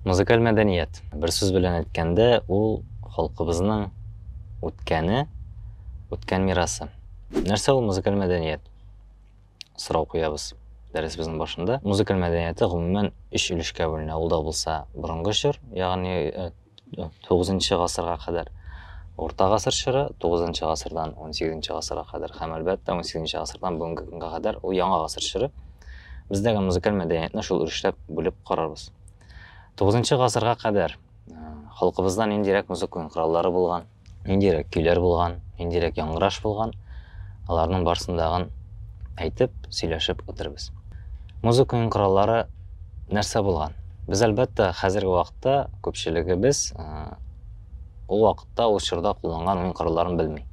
Музыкаль мәдәният. Бер сүз белән әйткәндә, ул халкыбызның үткәне, үткән мирасы. Нәрсә ул музыкаль мәдәният? Сорау куябыз дәресебезнең башында. Музыкаль мәдәнияте гомумән өч өлешкә бүленә. Ул да булса борынгы чор, ягъни э, 9 гасырга кадәр Урта гасыр чоры, 9 гасырдан 18 гасырга кадәр һәм әлбәттә 18 гасырдан бүгенге көнгә кадәр ул яңа гасыр чоры. Бездәге музыкаль мәдәниятне шул өлешләп бүлеп карарбыз. 9 гасырга кадәр халкыбызда ниндирәк музыка кораллары булган? ниндирәк көйләр булган, ниндирәк яңгыраш булган, аларның барсындагын әйтеп, сөйләшеп үтербез. Музыканың кораллары нәрсә булган? Без әлбәттә хәзерге вакытта күпчелегебез ул вакытта ул чорда кулланган уен коралларын белми.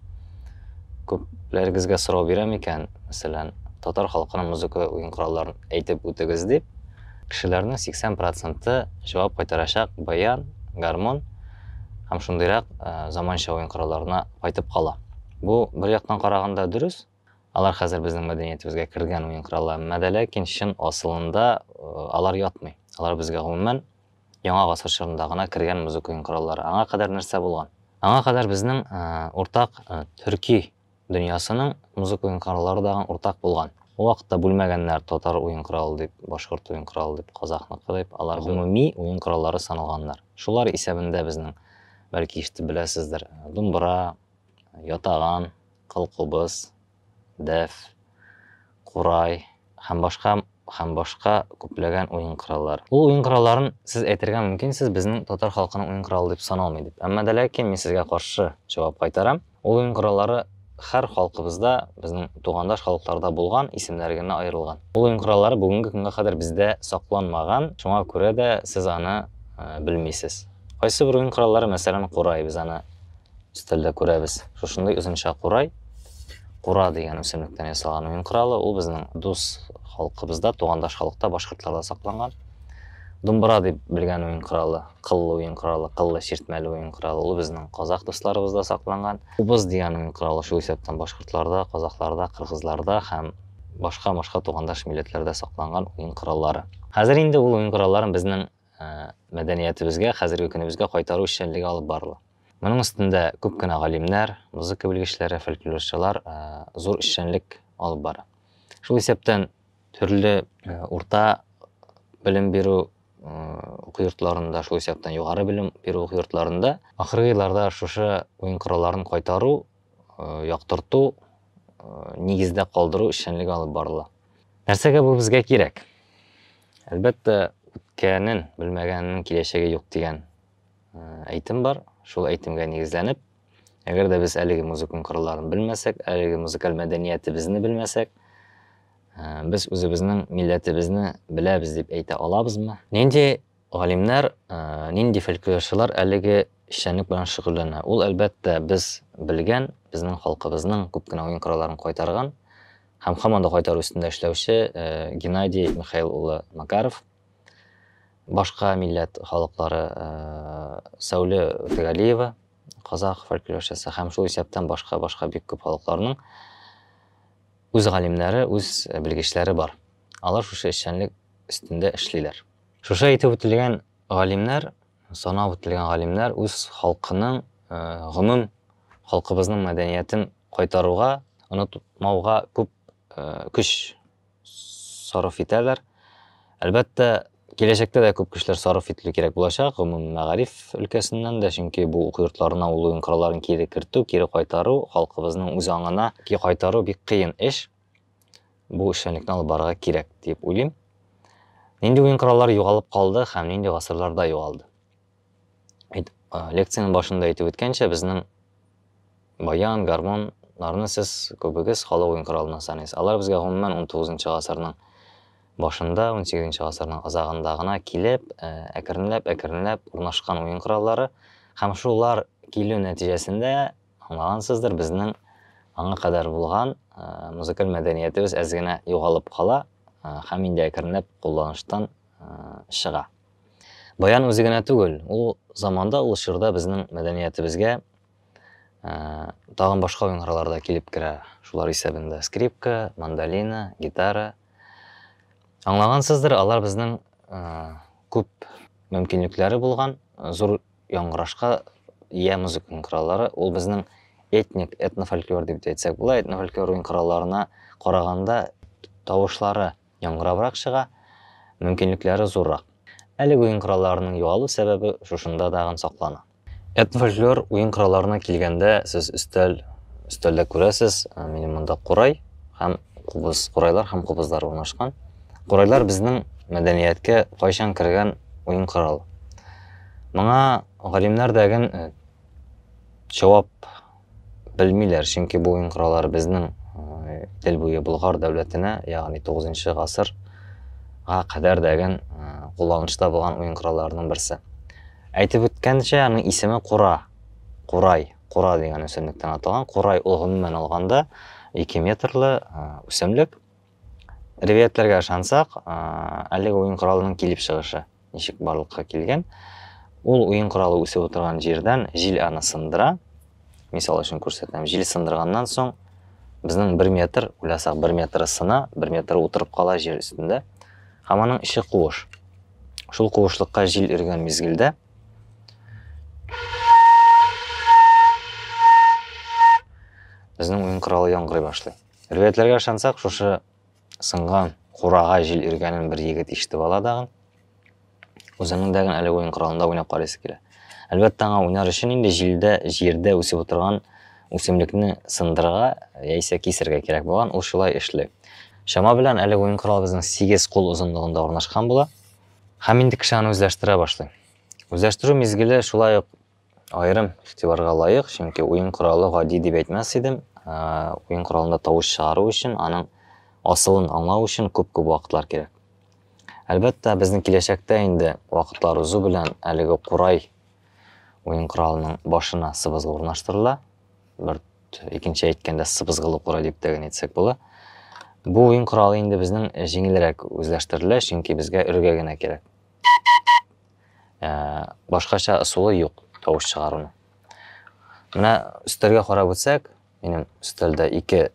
Күпләрегезгә сорау бирәм икән, мәсәлән, татар халкының музыка уен коралларын әйтеп үтегез дип, кешеләрнең 80 проценты җавап кайтарачак баян, гармон, һәм шундыйрак заманча уен коралларына кайтып кала. Бу бер яктан караганда дөрес, алар хәзер безнең мәдәниятебезгә кергән уен коралы, әмма дә ләкин чын асылында алар ятмый. Алар безгә гомумән яңа гасыр чорында гына кергән музыка уен кораллары. Аңа кадәр нәрсә булган? Аңа кадәр безнең уртак төрки дөньясының музыка уен кораллары дагын уртак булган. Ул вакытта бүлмәгәннәр татар уен коралы дип, башкорт уен коралы дип, казахныкы дип, алар гомуми уен кораллары саналганнар. Шулар исәбендә безнең, бәлки ишетеп беләсездер, думбра, ятаган, кылкубыз, дәф, курай һәм башка һәм башка күпләгән уен кораллар. Ул уен коралларын сез әйтергә мөмкин, сез безнең татар халкының уен коралы дип саналмый дип. Әмма дә ләкин мин сезгә каршы җавап кайтарам. Ул уен кораллары хәр халкыбызда, безнең тугандаш халыкларда булган, исемнәре генә аерылган. Ул уен кораллары бүгенге көнгә кадәр бездә сакланмаган, шуңа күрә дә сез аны белмисез. Кайсы бер уен кораллары, мәсәлән, курай, без аны өстәлдә күрәбез. Шушындый озынча курай, кура дигән үсемлектән ясалган уен коралы, ул безнең дус халкыбызда, тугандаш халыкта, башкортларда сакланган. Думбыра дип белгән уен коралы, кыллы уен коралы, кыллы чиртмәле уен коралы, ул безнең казах дусларыбызда сакланган. Убыз дигән уен коралы шул исәптән башкортларда, казахларда, кыргызларда һәм башка-башка тугандаш милләтләрдә сакланган уен кораллары. Хәзер инде ул уен коралларын безнең мәдәниятебезгә, хәзерге көнебезгә кайтару эшчәнлеге алып барыла. Моның өстендә күп кенә галимнәр, музыка белгечләре, фольклорчылар зур эшчәнлек алып бара. Шул исәптән төрле урта белем бирү уку йортларында, шул исәптән югары белем бирү уку йортларында ахыргы елларда шушы уен коралларын кайтару, яктырту, нигездә калдыру эшчәнлеге алып барыла. Нәрсәгә бу безгә кирәк? Әлбәттә, үткәнен белмәгәннең киләчәге юк дигән әйтем бар. Шул әйтемгә нигезләнеп, әгәр дә без әлеге музыкан коралларын белмәсәк, әлеге музыкаль мәдәниятебезне белмәсәк, без үзебезнең милләтебезне беләбез дип әйтә алабызмы? Нинди галимнәр, нинди фольклорчылар әлеге эшчәнлек белән шөгыльләнә? Ул, әлбәттә, без белгән, безнең халкыбызның күп кенә уен коралларын кайтарган һәм һаман да кайтару өстендә эшләүче Геннадий Михаил улы Макаров. Башка милләт халыклары Сәүле Тәгалиева, казах фольклорчысы һәм шул исәптән башка-башка бик күп халыкларның үз галимнәре, үз белгечләре бар. Алар шушы эшчәнлек өстендә эшлиләр. Шушы әйтеп үтелгән галимнәр, санап үтелгән галимнәр үз халкының, гомум халкыбызның мәдәниятен кайтаруга, онытмауга күп көч сарыф итәләр. Әлбәттә, киләчәктә дә күп кешеләр сарыф ителү кирәк булачак, гомуми мәгариф өлкәсеннән дә, чөнки бу уку йортларына ул уен коралларын кире кертү, кире кайтару, халкыбызның үз аңына ки кайтару бик кыен эш. Бу эшчәнлекне алып барырга кирәк, дип уйлыйм. Нинди уен кораллары югалып калды һәм нинди гасырларда югалды? лекцияның башында әйтеп үткәнчә безнең баян гармоннарны сез күбегез халык уен коралына саныйсыз алар безгә гомумән 19 гасырның башында 18 гасырның азагында гына килеп э, әкренләп әкренләп урнашкан уен кораллары һәм шулар килү нәтиҗәсендә аңлагансыздыр безнең аңа кадәр булган э, музыкаль мәдәниятебез әз генә югалып кала э, һәм инде әкренләп кулланыштан чыга Баян үзе генә түгел, ул заманда, ул чорда безнең мәдәниятебезгә тагын башка уеннарлар да килеп керә. Шулар исәбендә скрипка, мандолина, гитара. Аңлагансыздыр, алар безнең күп мөмкинлекләре булган, зур яңгырашка ия музыканың кораллары. Ул безнең этник, этнофольклор дип әйтсәк була, этнофольклор уен коралларына караганда тавышлары яңгырабрак чыга, мөмкинлекләре зуррак. Әлеге уен коралларының югалу сәбәбе шушында дагын саклана. Эд фольклор уен коралларына килгәндә, сез өстәл, өстәлдә күрәсез, минем монда курай һәм кубыз, курайлар һәм кубызлар урнашкан. Курайлар безнең мәдәнияткә кайчан кергән уен коралы? Моңа галимнәр дәген җавап Белмиләр, чөнки бу уенкыралар безнең э, Идел буе Болгар дәүләтенә, ягъни 9 гасырга кадәр дәген э, кулланышта булган уенкыраларның берсе. Әйтеп үткәнчә, аның исеме Кура. Курай, Кура дигән үсемлектән аталган. Курай ул гомумән алганда 2 метрлы э, үсемлек. Ривиятләргә ышансак, әлеге уен коралының килеп чыгышы ничек барлыкка килгән? Ул уен коралы үсеп утырган җирдән җил аны сындыра. Мисал өчен күрсәтәм. Җил сындырганнан соң безнең 1 метр, уйласак 1 метры сына, 1 метр утырып кала җир өстендә. Һәм аның эче куыш. Шул куышлыкка җил өргән мизгелдә безнең уен коралы яңгырый башлый. Ревәятләргә ышансак, шушы сынган курага җил иргәнен бер егет ишетеп ала дагын. Үзенең дәген әле уен коралында уйнап карыйсы килә. Әлбәттә, аңа уйнар өчен инде җилдә, җирдә үсеп утырган үсемлекне сындырырга яисә кисергә кирәк булган, ул шулай эшли. Чама белән әле уен коралыбызның сигез кул озынлыгында урнашкан була. Һәм инде кеше аны үзләштерә башлый. Үзләштерү мизгеле шулай ук Аерым игътибарга лаек, чөнки уен коралы гади дип әйтмәс идем. Уен коралында тавыш чыгару өчен, аның асылын аңлау өчен күп-күп вакытлар кирәк. Әлбәттә, безнең киләчәктә инде вакытлар узу белән әлеге курай уен коралының башына сыбызгы урнаштырыла. Бер икенче әйткәндә сыбызгылы курай дип тә генә әйтсәк була. Бу уен коралы инде безнең җиңелрәк үзләштерелә, чөнки безгә өргә генә кирәк. башкача ысулы юк тавыш чыгаруның. Менә өстәлгә карап үтсәк, минем өстәлдә ике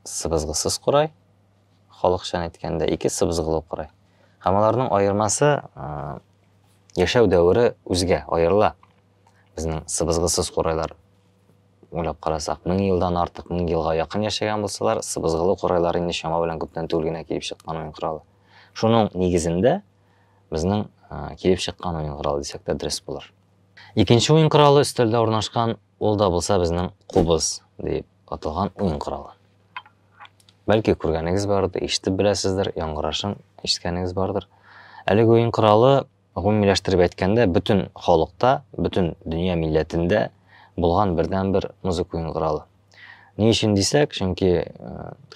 сыбызгысыз курай, халыкчан әйткәндә, ике сыбызгылы курай. Һәм аларның аермасы яшәү дәвере үзгә, аерыла. Безнең сыбызгысыз курайлар уйлап карасак, мең елдан артык, мең елга якын яшәгән булсалар, сыбызгылы курайлар инде чама белән күптән түгел генә килеп чыккан уен коралы. Шуның нигезендә Безнең килеп чыккан уен коралы дисәк тә дөрес булыр. Икенче уен коралы өстәлдә урнашкан, ул да булса безнең кубыз дип аталган уен коралы. Бәлки күргәнегез бардыр, ишетеп беләсездер, яңгырашын ишеткәнегез бардыр. Әлеге уен коралы гомумиләштереп әйткәндә бөтен халыкта, бөтен дөнья милләтендә булган бердәнбер музыка уен коралы. Ни өчен дисәк, чөнки э,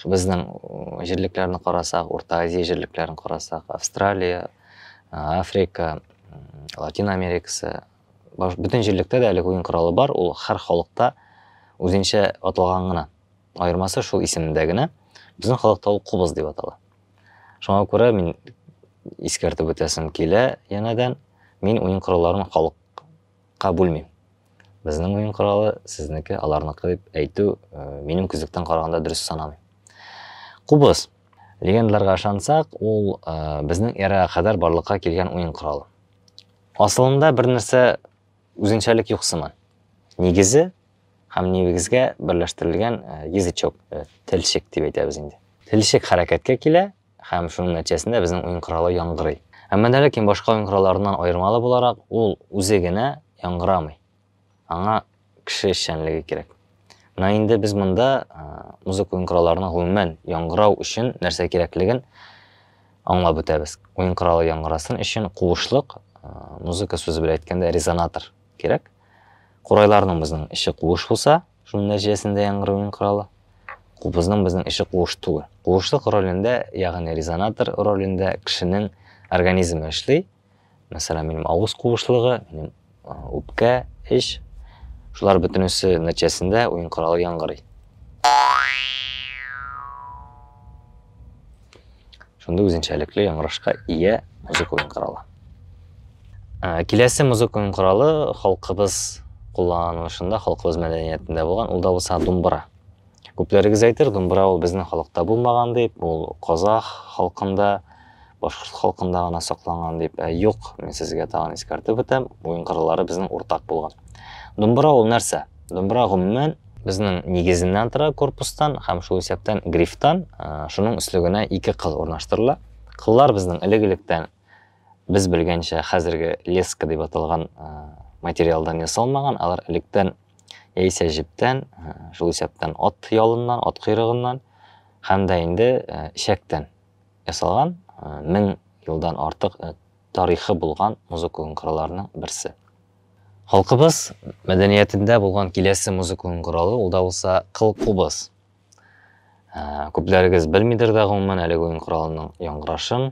безнең э, җирлекләрне карасак, Урта Азия җирлекләрен карасак, Австралия, э, Африка, Латин Америкасы, бөтен җирлектә дә әлеге уен коралы бар, ул һәр халыкта үзенчә аталган гына. Аермасы шул исемдә генә. Безнең халыкта ул кубыз дип атала. Шуңа күрә мин искәртеп үтәсем килә янәдән, мин уен коралларын халык Ка бүлмим. Безнең уен коралы сезнеке, аларныкы дип әйтү э, минем күзлектән караганда дөрес санамыйм. Кубыз. Легендаларга ышансак, ул э, безнең эрага кадәр барлыкка килгән уен коралы. Асылында бер нәрсә үзенчәлек юк сыман. Нигезе һәм нигезгә берләштерелгән э, язычок, э, телчек дип әйтәбез инде. Телчек хәрәкәткә килә, Һәм шуның нәтиҗәсендә безнең уен коралы яңгырый. Әмма дә ләкин башка уен коралларыннан аермалы буларак, ул үзе генә яңгырамый. Аңа кеше эшчәнлеге кирәк. Менә инде без монда музыка уен коралларының гомумән яңгырау өчен нәрсә кирәклеген аңлап үтәбез. Уен коралы яңгырасын өчен куышлык, музыка сүзе белән әйткәндә резонатор кирәк. Курайларның безнең эче куыш булса, Шуның нәтиҗәсендә яңгыруның коралы кубызның безнең эче куыш түгел. Куышлык ролендә, ягъни резонатор ролендә кешенең организмы эшли. Мәсәлән, минем авыз куышлыгы, минем үпкә, эч. Шулар бөтенесе нәтиҗәсендә уен коралы яңгырый. Шундый үзенчәлекле яңгырашка ия музыка уен коралы. Ә, киләсе музыка уен коралы халкыбыз кулланылышында, халкыбыз мәдәниятендә булган, ул да булса думбра. Күпләрегез әйтер, думбра ул безнең халыкта булмаган дип, ул казах халкында, башкорт халкында гына сакланган дип. Ә юк, мин сезгә тагын искәртеп үтәм, уен кораллары безнең уртак булган. Думбра ул нәрсә? Думбра гомумән Безнең нигезеннән тора корпустан һәм шул исәптән грифтан, шуның өслегенә ике кыл урнаштырыла. Кыллар безнең элек-электән без белгәнчә хәзерге леска дип аталган материалдан ясалмаган, алар электән яисә җептән, шул исәптән ат ялыннан, ат койрыгыннан һәм дә инде ишәктән ясалган, мең елдан артык тарихы булган музыка кылларының берсе. Халкыбыз мәдәниятендә булган киләсе музыкалын коралы, ул да булса кыл кубыз. Ә, күпләрегез белмидер дә гомумән әлеге уен коралының яңгырашын,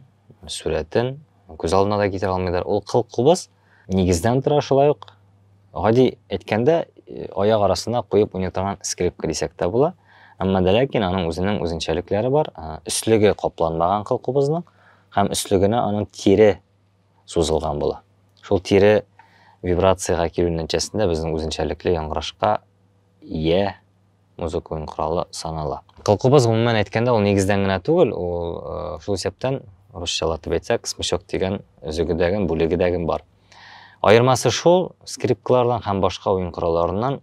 сүрәтен, күз алдына да китерә алмыйдыр. Ул кыл кубыз нигездән тора шулай ук. Гади әйткәндә, э, аяк арасына куеп уйный торган скрипка дисәк тә була. Әмма дә ләкин аның үзенең үзенчәлекләре бар. Ә, өслеге капланмаган кыл кубызның һәм өслегенә аның тире сузылган була. Шул тире вибрациягә килү нәтиҗәсендә безнең үзенчәлекле яңгырашка ия музыка уен коралы санала. Кылкубыз, гомумән әйткәндә, ул нигездән генә түгел, ул шул исәптән, русчалатып әйтсәк, смычок дигән өзегедәген, бүлегедәген бар. Аермасы шул, скрипкалардан һәм башка уен коралларыннан,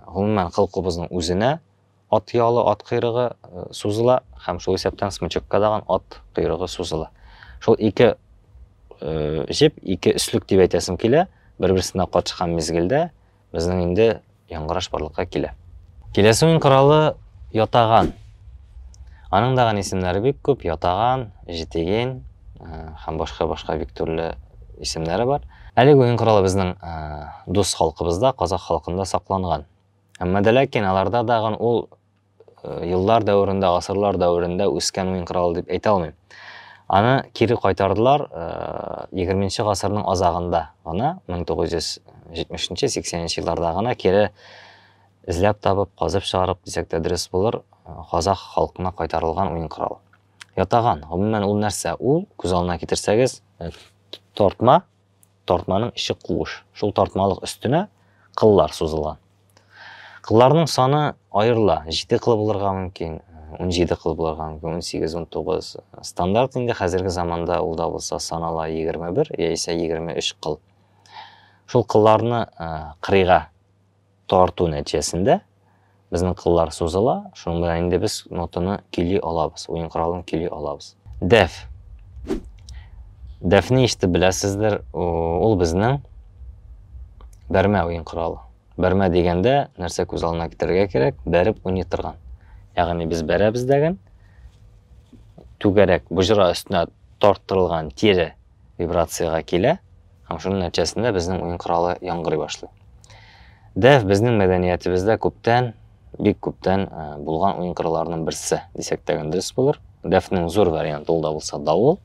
гомумән, кылкубызның үзенә Ат ялы, ат койрыгы сузыла һәм шул исәптән смычокка даган ат койрыгы сузыла. Шул ике җеп, ике өслек дип әйтәсем килә, бер-берсенә катышкан мизгелдә безнең инде яңгыраш барлыкка килә. Киләсе уен коралы ятаган. Аның даган исемнәре бик күп, ятаган, җитеген һәм башка-башка бик төрле исемнәре бар. Әлеге уен коралы безнең дус халкыбызда, казах халкында сакланган. Әмма дә ләкин аларда дагын ул еллар дәверендә, гасырлар дәверендә үскән уен коралы дип әйтә алмыйм. Аны кире кайтардылар 20 гасырның азагында гына, 1970-80 елларда гына кире эзләп табып, казып чыгарып дисәк тә дөрес булыр, казах халкына кайтарылган уен коралы. Ятаган, гомумән ул нәрсә? Ул, күз алдына китерсәгез, тортма, Тартманың эче куыш. Шул тартмалык өстенә кыллар сузылган. Кылларның саны аерыла. Җиде кыл булырга мөмкин, унҗиде кыл булырга мөмкин, унсигез, унтугыз. Стандарт инде хәзерге заманда ул да булса санала егерме бер яисә егерме өч кыл. Шул кылларны кырыйга Тарту нәтиҗәсендә безнең кыллар сузыла, шуның белән инде без нотаны көйли алабыз, уен коралын көйли алабыз. Дәф. Дәфне ишетеп беләсездер, ул безнең бәрмә уен коралы. Бәрмә дигәндә нәрсә күз алдына китерергә кирәк? Бәреп уйный торган. Ягъни без бәрәбез дәген, түгәрәк боҗра өстенә тарттырылган тире вибрациягә килә һәм шуның нәтиҗәсендә безнең уен коралы яңгырый башлый. Дәф безнең мәдәниятебездә күптән, бик күптән э, булган уен коралларының берсе дисәк тә дөрес булыр. Дәфнең зур варианты ул да булса давыл.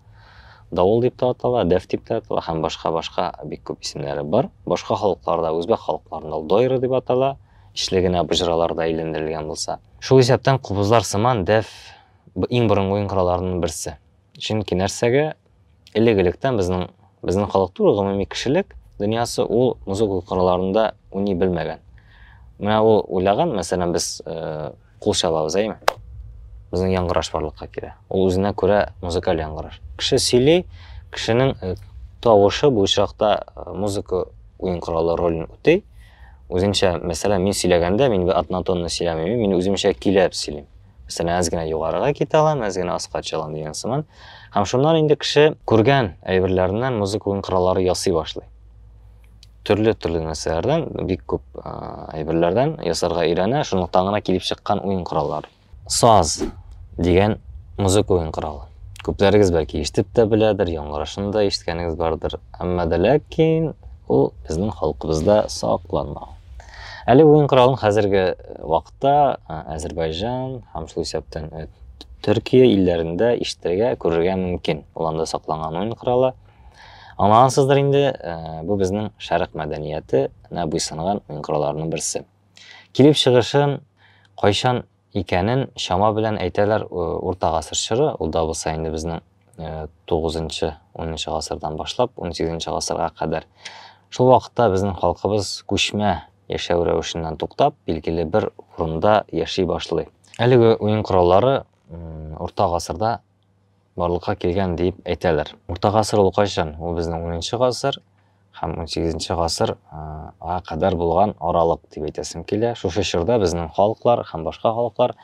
Давыл дип тә атала, дәф дип тә атала һәм башка-башка бик күп исемнәре бар. Башка халыкларда, үзбәк халыкларында дойры дип атала, ичле генә боҗраларда әйләндерелгән булса. Шул исәптән кубызлар сыман дәф иң борынгы уен коралларының берсе. Чөнки нәрсәгә элек-электән безнең безнең халык түгел, гомуми кешелек дөньясы ул музыка коралларында уйный белмәгән. Менә ул уйлаган, мәсәлән, без э, кул чалабыз, әйме? Безнең яңгыраш барлыкка килә. Ул үзенә күрә музыкаль яңгыраш. Кеше сөйли, кешенең э, тавышы бу очракта э, музыка уен коралы ролен үти. Үзенчә, мәсәлән, мин сөйләгәндә, мин бер атнатонны сөйләмим, мин үземчә киләп сөйлим. Мәсәлән, әз генә югарыга китә алам, әз генә аска төшә алам дигән сыман. Һәм шуннан инде кеше күргән әйберләреннән музыка уен кораллары ясый башлый. Төрле-төрле нәрсәләрдән, бик күп әйберләрдән ясарга өйрәнә, шунлыктан гына килеп чыккан уен кораллары. Саз дигән музыка уен коралы. Күпләрегез бәлки ишетеп тә беләдер, яңгырашын да ишеткәнегез бардыр. Әмма дә ләкин ул безнең халкыбызда сакланмаган. Әле уен коралын хәзерге вакыт Хатта Азербайҗан һәм шул исәптән Төркия илләрендә ишетергә, күрергә мөмкин. Ул анда сакланган уен коралы. Аңлагансыздыр инде, бу безнең шәрык мәдәниятенә буйсынган уен коралларының берсе. Килеп чыгышын, кайчан икәнен чама белән әйтәләр урта гасыр чоры, ул да булса инде безнең 9-нчы, 10-нчы гасырдан башлап 18-нче гасырга кадәр. Шул вакытта безнең халкыбыз күчмә яшәү рәвешеннән туктап, билгеле бер урында яши башлый. Әлеге уен кораллары урта гасырда барлыкка килгән дип әйтәләр. Урта гасыр ул кайчан? Ул безнең 10-нчы гасыр, һәм унсигезенче гасыр га кадәр булган аралык дип әйтәсем килә. Шушы чорда безнең халыклар һәм башка халыклар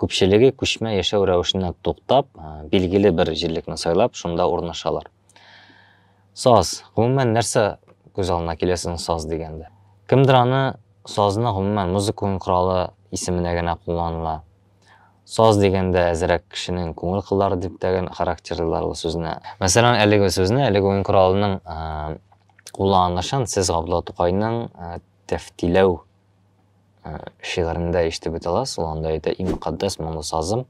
күпчелеге күчмә яшәү рәвешенә туктап, билгеле бер җирлекне сайлап, шунда урнашалар. Саз. Гомумән, нәрсә күз алдына килә сезнең саз дигәндә? Кемдер аны сазны гомумән музыка уен коралы исеменә генә кулланыла. Саз дигәндә әзрәк кешенең күңел кыллары дип тәген характерлыйлар ул сүзне. Мәсәлән, әлеге сүзне, әлеге уен коралының кулланылышын сез Габдулла Тукайның Тәфтиләү шигырендә ишетеп бит аласыз. Ул анда әйтә, иң мөкатдәс моңлы сазым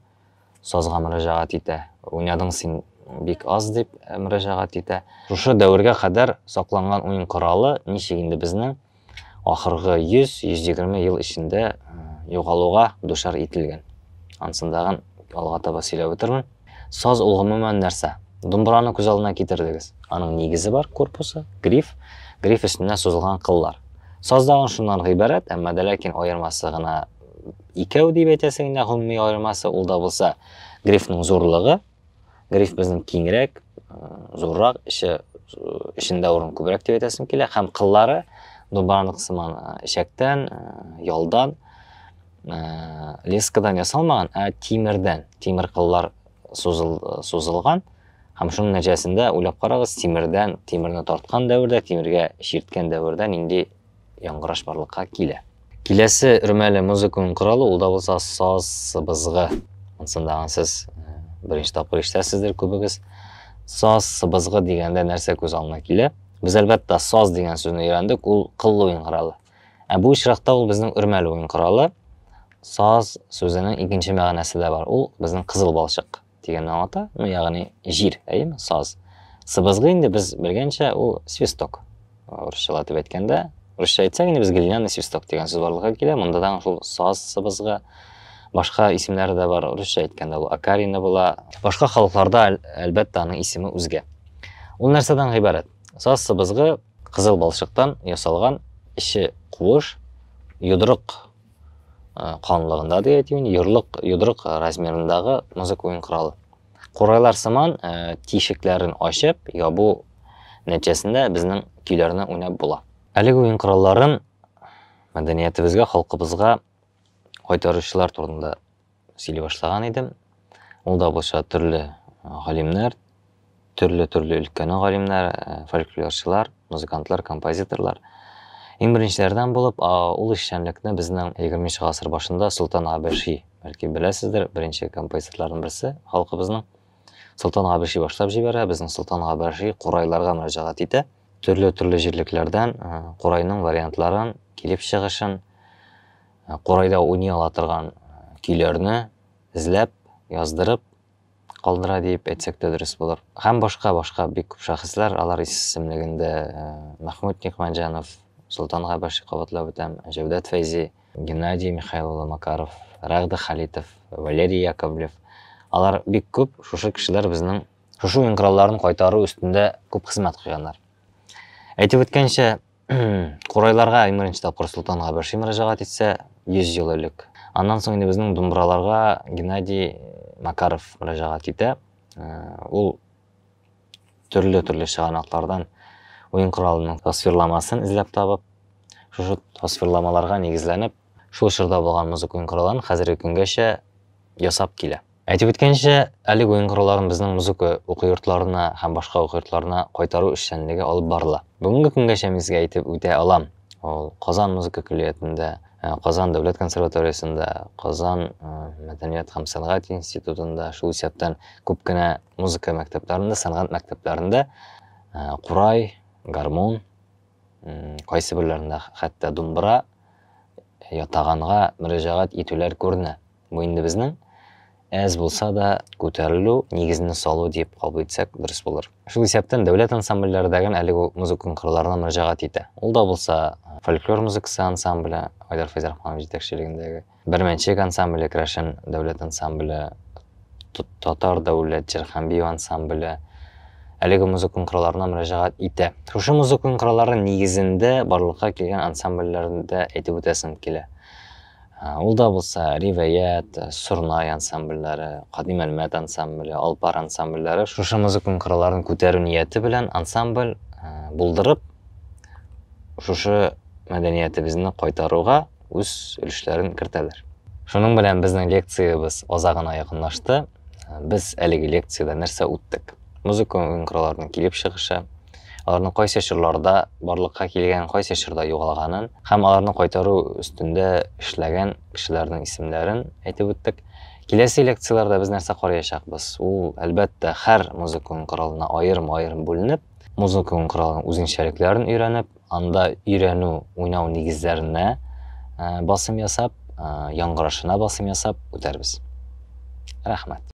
сазга мөрәҗәгать итә. Уйнадың син бик аз дип мөрәҗәгать итә. Шушы дәвергә кадәр сакланган уен коралы ничек инде безнең ахыргы 100-120 ел эчендә э, югалуга душар ителгән. Ансын тагын алга таба сөйләп үтермен. Саз ул гомумән нәрсә? Думбраны күз алдына китердегез. Аның нигезе бар, корпусы, гриф, гриф өстенә сузылган кыллар. Саз тагын шуннан гыйбарәт, әмма дә ләкин аермасы гына икәү дип әйтәсе генә гомуми аермасы, ул да булса грифның зурлыгы, Гриф безнең киңрәк, зуррак, эче эчендә урын күбрәк дип әйтәсем килә һәм кыллары дубаранлык сыман эчәктән, ялдан, лескадан ясалмаган, ә тимердән, тимер кыллар сузыл, сузылган һәм шуның нәтиҗәсендә уйлап карагыз, тимердән, тимерне тарткан дәвердә, тимергә чирткән дәвердә нинди яңгыраш барлыкка килә. Киләсе өрмәле музыканың коралы ул да булса саз сыбызгы. Монсында сез э, беренче тапкыр ишетәсездер күбегез. Саз сыбызгы дигәндә нәрсә күз алдына килә? Без әлбәттә саз дигән сүзне өйрәндек, ул кыллы уен коралы. Ә бу очракта ул безнең өрмәле уен коралы. Саз сүзенең икенче мәгънәсе дә бар. Ул безнең кызыл балчык. дигәнне аңлата, ну ягъни җир, әйеме, саз. Сыбызгы инде без белгәнчә ул свисток. Русчалатып әйткәндә, русча әйтсәк инде без глиняный свисток дигән сүз барлыкка килә. Монда да шул саз сыбызгы, башка исемнәре дә бар. Русча әйткәндә ул акарина була. Башка халыкларда әлбәттә аның исеме үзгә. Ул нәрсәдән гыйбарәт? Саз сыбызгы кызыл балчыктан ясалган, эче куыш, йодрык Э, калынлыгында ди әйтимен йорлык йодрык размерындагы музыка уен коралы курайлар сыман э, тишекләрен ачып ябу нәтиҗәсендә безнең көйләрне уйнап була әлеге уен коралларын мәдәниятебезгә халкыбызга кайтаручылар турында сөйли башлаган идем. Ул да булса төрле галимнәр, төрле-төрле өлкәнең галимнәре, э, фольклорчылар, музыкантлар, композиторлар. Иң беренчеләрдән булып, ул эшчәнлекне безнең 20 гасыр башында Солтан Габеши, бәлки беләсездер, беренче композиторларның берсе халкыбызның. Солтан Габеши башлап җибәрә, безнең Солтан Габеши курайларга мөрәҗәгать итә. Төрле-төрле җирлекләрдән курайның вариантларын, килеп чыгышын, Курайда уйный ала торган көйләрне эзләп, яздырып калдыра диеп әйтсәк тә дөрес булыр. Һәм башка-башка бик күп шәхесләр, алар исемлегендә Мәхмүт Никмәтҗанов, Солтан Габаши кабатлап үтәм, Җәүдәт Фәйзи, Геннадий Михаил улы Макаров, Рәгъдә Халитов, Валерий Яковлев, алар бик күп, шушы кешеләр безнең шушы уен коралларын кайтару өстендә күп хезмәт куйганнар. Әйтеп үткәнчә, Курайларга иң беренче тапкыр Солтан Габерши мөрәҗәгать итсә, 100 ел элек. Аннан соң инде безнең Думбраларга Геннадий Макаров мөрәҗәгать итә. Ул төрле-төрле чыганаклардан уен коралының тасвирламасын эзләп табып, шушы тасвирламаларга нигезләнеп, шул чорда булган музыка уен коралларын хәзерге көнгәчә ясап килә. Әйтеп үткәнчә, әлеге уен коралларын безнең музыка уку йортларына һәм башка уку йортларына кайтару эшчәнлеге алып барыла. Бүгенге көнгәчә мин сезгә әйтеп үтә алам, ул Казан музыка көллиятендә, э, Казан дәүләт консерваториясендә, Казан э, мәдәният һәм сәнгать институтында, шул исәптән күп кенә музыка мәктәпләрендә, сәнгать мәктәпләрендә э, курай, гармун, кайсы берләрендә хәтта думбра ятаганга мөрәҗәгать итүләр күренә. Бу инде безнең әз булса да күтәрелү, нигезне салу дип кабул итсәк дөрес булыр. Шул исәптән дәүләт ансамбльләре дә гел әлеге үк музыка кырларына мөрәҗәгать итә. Ул да булса фольклор музыкасы ансамбле, Айдар Фәйзрахманов җитәкчелегендәге, Бәрмәнчек ансамбле, Крәшен дәүләт ансамбле, Татар дәүләт җыр һәм бию ансамбле, әлеге музыка кырларына мөрәҗәгать итә. Шушы музыка кырлары нигезендә барлыкка килгән ансамбльләрне дә әйтеп үтәсем килә. Ул да булса Ривәят, Сорнай ансамбльләре, Кадим Әлмәт ансамбле, Алпар ансамбльләре шушы музыкум кырыларын күтәрү нияте белән ансамбль булдырып, шушы мәдәниятебезне кайтаруга үз өлешләрен кертәләр. Шуның белән безнең лекциябез азагына якынлашты. Без әлеге лекцияда нәрсә үттек? Музыка уенкырларының килеп чыгышы, аларның кайсы чорларда барлыкка килгән, кайсы чорда югалганын һәм аларны кайтару өстендә эшләгән кешеләрнең исемләрен әйтеп үттек. Киләсе лекцияләрдә без нәрсә караячакбыз? Ул, әлбәттә, һәр музыка уен коралына аерым-аерым бүленеп, музыка уен коралының үзенчәлекләрен өйрәнеп, Анда өйрәнү, уйнау нигезләренә басым ясап, яңгырашына басым ясап үтәрбез. Рәхмәт.